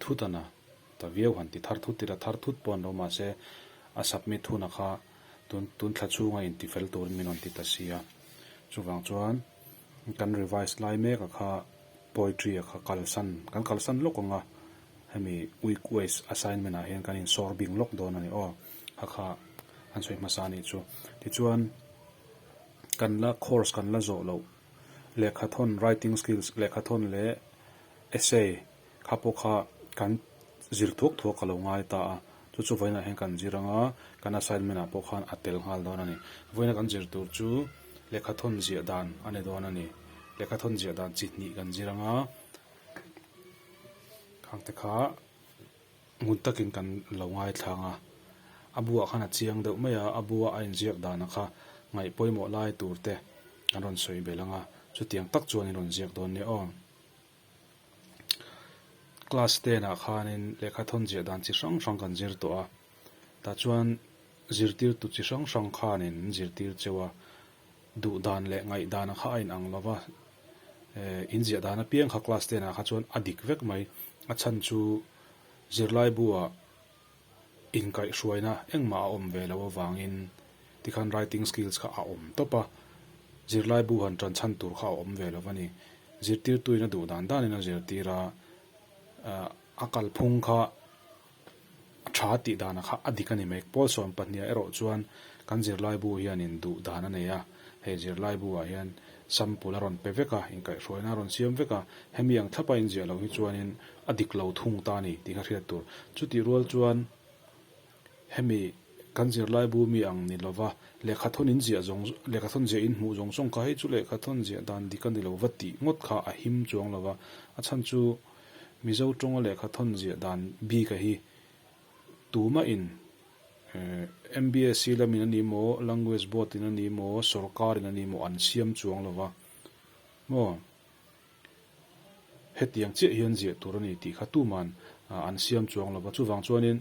thut a na ta viau han ti thar thut tila thar thut pawh an lo mahse a submit huna kha tun tun thla chhunga inti fel turin min rawn ti ta si a, chuvang chuan kan revise lai mek a kha poetry a kha kalsan kan kalsan lawk ang a, hemi week wise assignment ah hian kan in sawr bing lawk dawn a ni aw a kha an sawi hmasa a nih chu tichuan kan la course kan la zawh loh. Lehkhathawn, writing skills, lehkhathawn leh essay kha pawh kha kan zir thuak thuak ka lo ngai ta a, chu chu vawiinah hian kan zir ang a, kan assignment ah pawh khan a tel nghal dawn a ni. Vawiina kan zir tur chu lehkhathawn ziah dan a ni dawn a ni, lehkhathawn ziah dan chi hnih kan zir ang a, khangte kha. Ngun takin kan lo ngaithlang a, a bu ah khan a chiang deuh mai a, a bu a a inziak dan ah kha ngaih pawimawh lai tur te kan rawn sawi belh ang a, chutiang tak chuan in rawn ziak dawn nia aw. Class ten ah khanin lehkha thawn ziah dan chi hrang hrang kan zir tawh a, tah chuan zirtirtu chi hrang hrang khan in zirtir cheu a, Duh dan leh ngaih dan kha a inang lo va, inziah dan apiang kha class ten ah kha chuan a dik vek mai. A chhan chu zirlaibu-a inkaihhruaina engmah a awm ve lo avangin tikhan writing skills kha a awm tawp a, zirlaibu han tan chhan tur kha a awm ve lo va ni. Zirtirtuin a duh dan danin a zirtir a, a kalphung kha Tha tih dana kha a dik a ni mek. Paul Suan pahniha erawh chuan kan zirlaibu hianin duh dan a nei a, hei zirlaibuah hian sample a rawn pe vek a, inkaihhruaina a rawn siam vek a, hemi ang thlapa inziah lo hi chuanin a dik lo thung ta a ni tih ka hriat tur. Chutih rual chuan hemi kan zirlaibu mi ang ni lova lehkhathawn inziah zawng, lehkhathawn ziah inhmuh zawng zawng kha hei chu lehkhathawn ziah dan dik a ni lova tih ngawt kha a him chuang lova, a chhan chu. Mizo tawnga lehkha thawn ziah dan bik a hi tumah in MBSE lamin a ni maw, Language Board in a ni maw, sawrkar in a ni maw an siam chuang lo va, maw hetiang chiah hian ziah tur a ni tih kha tuman an siam chuang lo va, chuvang chuanin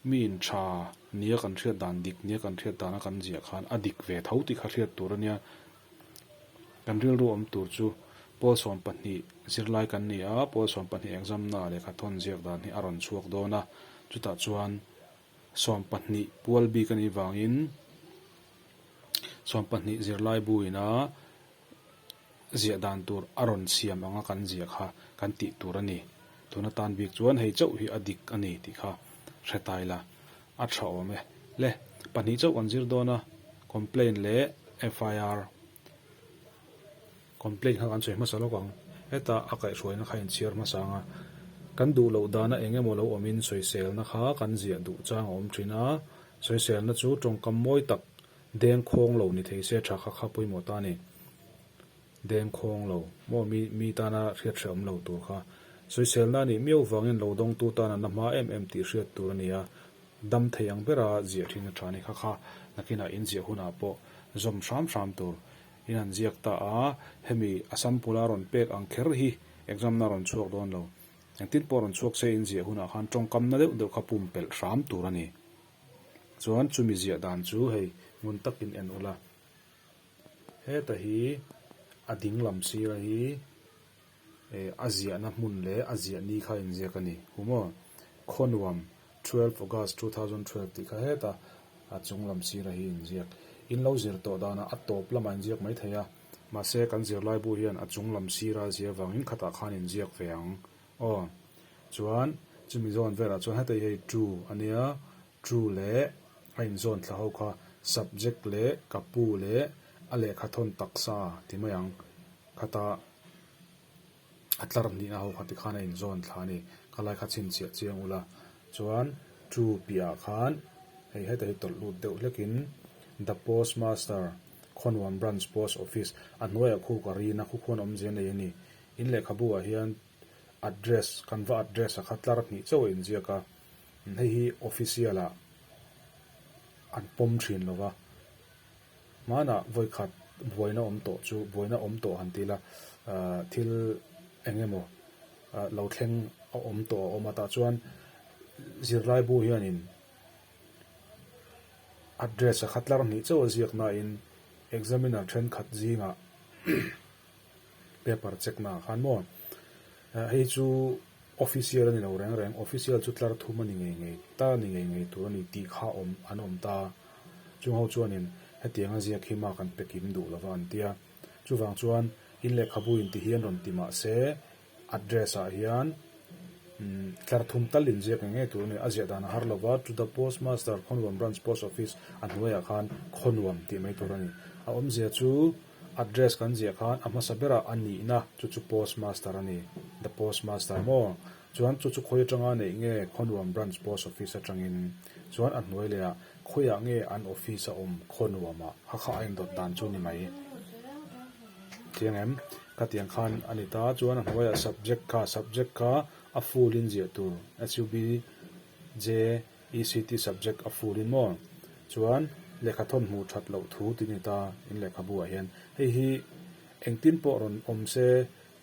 mi in tha nia kan hriat dan dik nia kan hriat dan a kan ziah khan a dik ve tho tih kha hriat tur a nia. Kan rilru awm tur chu Paul sawm pahnih zirlai kan ni a, Paul sawm pahnih examna lehkha thawn ziak dan hi a rawn chhuak dawn a, chutah chuan sawm pahnih pual bik anih vangin sawm pahnih zirlai buina ziah dan tur a rawn siam anga kan ziah kha kan tih tur a ni. Tuna tan bik chuan hei chauh hi a dik a ni tih kha hre tai la. A tha awm e le pahnih chauh kan zir dawn a, complaint leh FIR complaint kha kan sawi hmasa lawk ang, heta a kaihhruaina kha in chhiar hmasa ang a, kan duh loh dana eng emaw lo awmin sawiselna kha kan ziah duh chang a awm thin a, sawiselna chu tawngkam mawi tak dengkhawng lo ni thei se tha kha kha pawimawh ta a ni. Deng khawng lo maw mi mi tana hriat hrehawm lo tur kha sawiselna a nih miau vangin lo dawngtu tana na hma em em tih hriat tur a ni a, dam thei ang bera ziah thin a thani kha kha nakinah inziah hunah pawh zawm hram hram tur in an ziak ta a, hemi a sample a rawn pek ang kher hi exam na rawn chhuak dawn lo engtin pawh rawn chhuak se inziah hunah khan tawngkamna deuh deuh kha pum pelh hram tur a ni chuan chumi ziah dan chu hei ngun takin en ula. Heta hi a ding lam sira hi eh a ziahna hmun leh a ziah ni kha inziak a ni, hu maw? Khawnuam, twelve August two thousand twelve tih kha heta a chung lam sira hi inziak. In lo zir tawh dana a tawp lamah inziak mai thei a, mahse kan zirlaibu hian a chung lam sira a zia vangin khatah khan inziak ve ang aw. Chuan chumi zawn velah chuan heta hi hei true a nia. True leh a inzawn thla ho kha subject leh ka pu leh a lehkha thawn taksa ti mai ang khata a tlar hnihna ho kha tikhan a inzawn thla a ni. Khalaia kha chhinchhiah chiang u la chuan true piahah khan hei heta hi tawlh lut deuh hlekin The post master, Khawnnuam Branch Post Office, a hnuaia khu ka rin a, khukhuan awm zia nei a ni. In lehkhabuah hian address kan va address a kha tlar hnih chauh a inziak a. Hei hi official ah an pawm thin lo va, hmanah vawikhat buaina awm tawh chu buaina awm tawh han tila thil eng emaw lo thleng a awm tawh a awm a tah chuan zirlaibu hianin address a khatlar hnih chauh ziaknain examiner thenkhat zingah paper check na ah khan maw ah hei chu official a ni lo reng reng official chu tlar thum a ni ngei ngei ta a ni ngei ngei tur a ni tih kha awm an awm ta a chung ho chuanin hetiang a ziak hi mark an pe kim duh lo va an tia chuvang chuan in lehkhabu in ti hi an rawn ti mah se Address ah hian tlar thum tal in ziak eng nge tur nen a ziah dan a har lo va, to the postmaster, Khawnvuam Branch Post Office, a hnuai ah khan Khawnvuam tih mai tur a ni. A awm zia chu address kan ziah khan a hmasa ber ah a nih na chu chu postmaster a ni, the postmaster maw? Chuan chu chu khawi atang a neih nge Khawnvuam Branch Post Office atang in chuan a hnuai leh ah khawi ah nge an office a awm Khawnvuam ah a kha a in dawt dan chu ni mai. Thiang em? Ka tiang khan a ni ta chuan a hnuaia subject kha subject kha a full in ziah tur SUB JECT subject a full in maw? Chuan lehkha thawn hmuh that loh thu ti ni ta in lehkhabu ah hian hei hi engtin pawh rawn awm se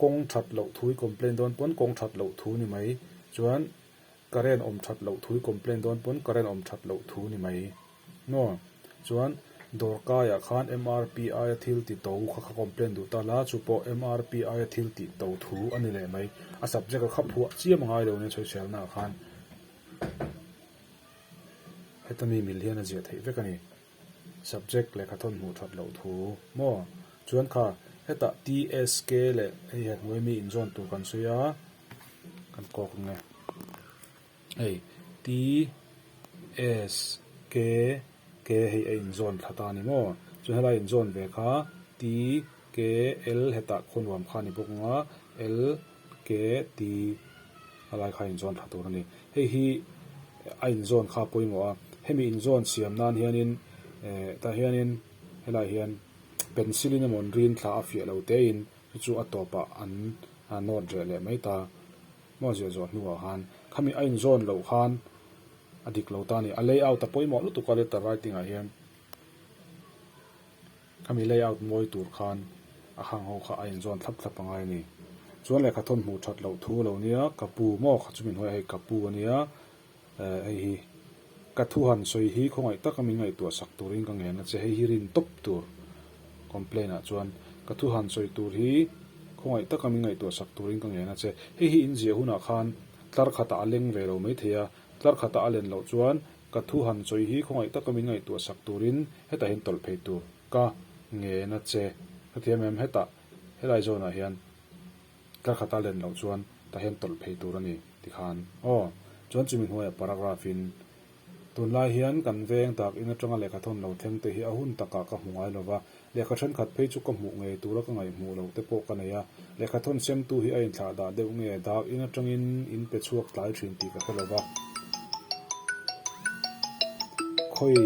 kawng that loh thu i complain dawn pawn kawng that loh thu ni mai chuan current awm that loh thu i complain dawn pawn current awm that loh thu ni mai. Hnuah chuan dawr kaiah khan mrp aia thil ti to kha ka complain duh ta la, chu pawh mrp aia thil tih to thu a ni leh mai. A subject a kha phuah chiam a ngai lo nen chawihrialna ah khan heta mi mil hian a ziah theih vek a ni. Subject lehkha thawn hmuh that loh thu maw? Chuan kha heta TSK leh hei hnuai mi inzawn tur kan sawi a, kan kawk ang e. Hei, TS, Ke, Ke hei a inzawn thla ta a ni maw? Chuan helai inzawn ve kha, T, Ke, L hetah khuanuam kha a ni bawk anga, L, Ke, T a lai kha inzawn thla tur a ni. Hei hi a inzawn kha a pawimawh a. Hemi inzawn siam nan hianin eh tah hianin helai hian pencil in emaw rin thla a fiah lo tein chu chu a tawpah an note reh leh mai ta. Hmaw ziah zual hnuah han khami a inzawn loh khan a dik lo ta ni. A layout a pawimawh lutuk a letter writing ah hian khami layout mawi tur khan a khang ho kha a inzawn thlap thlap angai a ni. Chuan lehkha thawn hmuh that loh thu a lo nia, ka pu maw? Kha chu min hawi a hei ka pu a nia. Hei hi ka thu han sawi hi khawngaih taka min ngaihtuah sak turin ka ngen a che. Hei hi rin tawp tur complain ah chuan ka thu han sawi tur hi khawngaih taka min ngaihtuah sak turin ka ngen a che. Hei hi in ziah hunah khan tlar khatah a leng ve lo mai thei a, tlar khatah a len loh chuan ka thu han sawi hi khawngaih taka min ngaihtuah sak turin hetahin tawlh phei tur ka ngen a che. Hrethiam em hetah helai zawnah hian Ka khat a len loh chuan ka hen tawlh phei tur a ni, ti khan. Aw, chuan chumi hnuaia paragraph in, Tunlai hian kan veng tak in atanga lehkha thawn lo thleng te hi a hun takah ka hmu ngai lo va, lehkha thenkhat phei chu ka hmuh ngei tura ka ngaih hmuh loh te pawh ka nei a, lehkha thawn semtu hi a inthlah dah deuh nge dak in atangin in pe chhuak tlai thin tih ka hre lo va. Khawi.